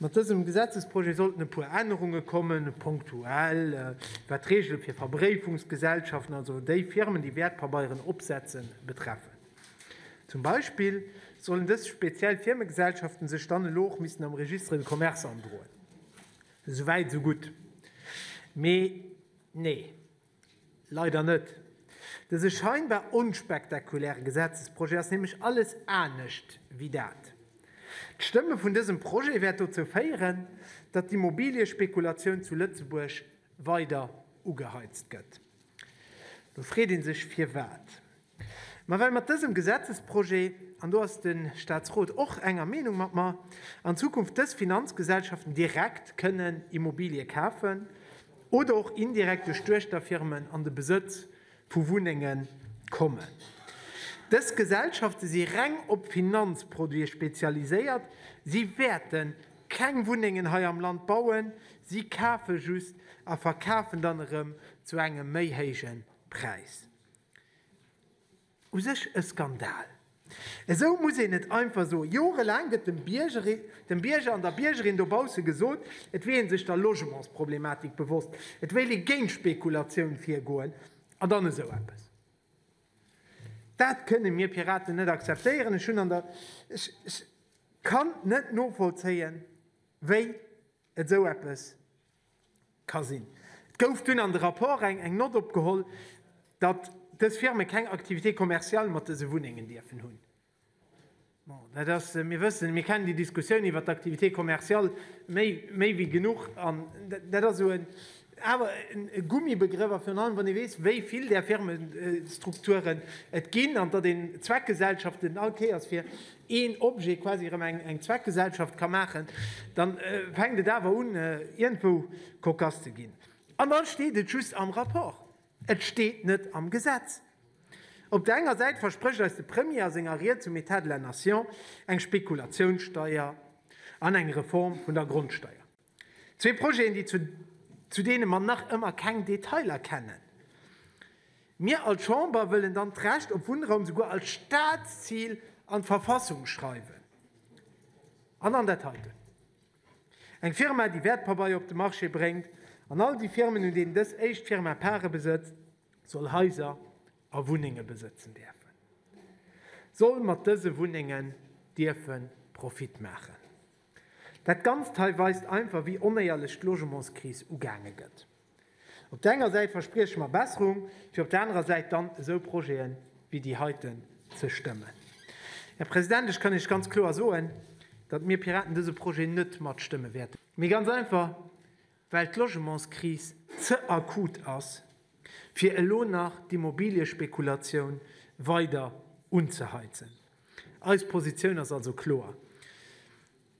Mat dësem Gesetzesprojet sollten e puer Ännerunge kommen, punktuell, wat d'Reegele fir Verbréifungsgesellschaften, also déi Firmen, déi Wäertpabeieren opsetzen, betreffen. Zum Beispill sollen dës speziell Firmegesellschaften sech dann elo och missten am Registre de Commerce androen. Esou wäit, esou gutt. Mee nee. Leider net. Dëse scheinbar onspektakuläre Gesetzesprojet ass nämlech alles anescht wéi dat. D'Stëmme vun dësem Projet wäert dozou féieren, datt d'Immobiliëspekulatioun zu Lëtzebuerg weider ugeheizt gëtt. Lo freet ee sech, firwat. Mä well mat dësem Gesetzesprojet, an do ass de Statsrot och enger Meenung mat mer, an Zukunft dës Finanzgesellschaften direkt kënnen Immobilië kafen oder och indirekt duerch Duechterfirmen an de Besëtz vu Wunnenge kommen. Dës Gesellschafte si reng op Finanzproduite spezialiséiert, si wäerte keng Wunnengen hei am Land bauen, si kafe just a verkafen dann erëm zu engem méi héije Präis. U sech e Skandal. Esou muss een et einfach soen. Jorelaang gëtt dem Bierger an der Biergerin dobausse gesot, et wier ee sech der Logementsproblematik bewosst, et wéilt ee géint Spekulatioun virgoen an dann esou eppes. Dat kënne mir Piraten net akzeptéieren. Ech kann net novollzéien, wéi Esou eppes ka sinn. Et gouf dunn an de Rapport eng Nott opgeholl, datt dës Firme keng Activité commerciale mat dëse Wunnengen dierfen hunn. Bon, dat ass, mir wëssen, mir kennen déi Diskussioun iwwert d'Activité commerciale méi wéi genuch. An dat ass esou en Awer e Gummibegrëff, a virun allem wann ee weess, wéi vill där Firmestrukturen et ginn, an datt een Zweckgesellschaften all Kéiers fir een Objet quasi erëm eng Zweckgesellschaft ka maachen, da fänkt et awer un iergendwou kokass ze ginn. An da steet et just am Rapport, et steet net am Gesetz. Op der enger Säit versprécht eis de Premier a senger Ried zum État de la Nation eng Spekulatiounssteier an eng Reform vun der Grondsteier. Zwee Projeten, déi zu zu deene mer nach ëmmer keng Detailer kennen. Mir als Chamber wëllen dann d'Recht op Wunnraum souguer als Staatszil an d'Verfassung schreiwen. An dann dat heiten. Eng Firma, déi Wäertpabeier op de Marché bréngt an all déi Firmen, un deenen dës éischt Firma Parë besëtzt, soll Haiser a Wunnenge besëtzen däerfen, soll mat dëse Wunnengen dierfe Profit maachen. Dat Ganzt hei weist einfach, wéi onéierlech d'Logementskris ugaange gëtt. Op der enger Säit versprieche mer Besserung, fir op der anerer Säit dann esou Projete wéi déi heiten ze stëmmen. Här President, ech kann Iech ganz kloer soen, datt mir Piraten dëse Projet net matstëmme wäerten. Mee ganz einfach, well d'Logementskris ze akut ass, fir elo nach d'Immobiliëspekulatioun weider unzeheizen. Eis Positioun ass also kloer.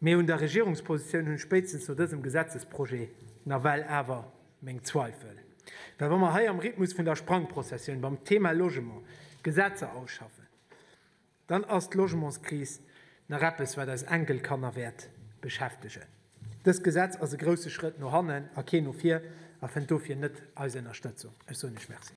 Mee un der Regierungspositioun hunn ech spéitstens no dësem Gesetzesprojet nawell awer meng Zweifel. Well wa mer hei am Rhythmus vun der Sprangprozessioun beim Thema Logement Gesetzer ausschaffen, dann ass d'Logementskris nach eppes, wat eis Enkelkanner wäert beschäftegen. Dëst Gesetz ass e grousse Schrëtt no hannen a keen no vir a fënnt dofir net eis Ënnerstëtzung. Ech soen lech Merci.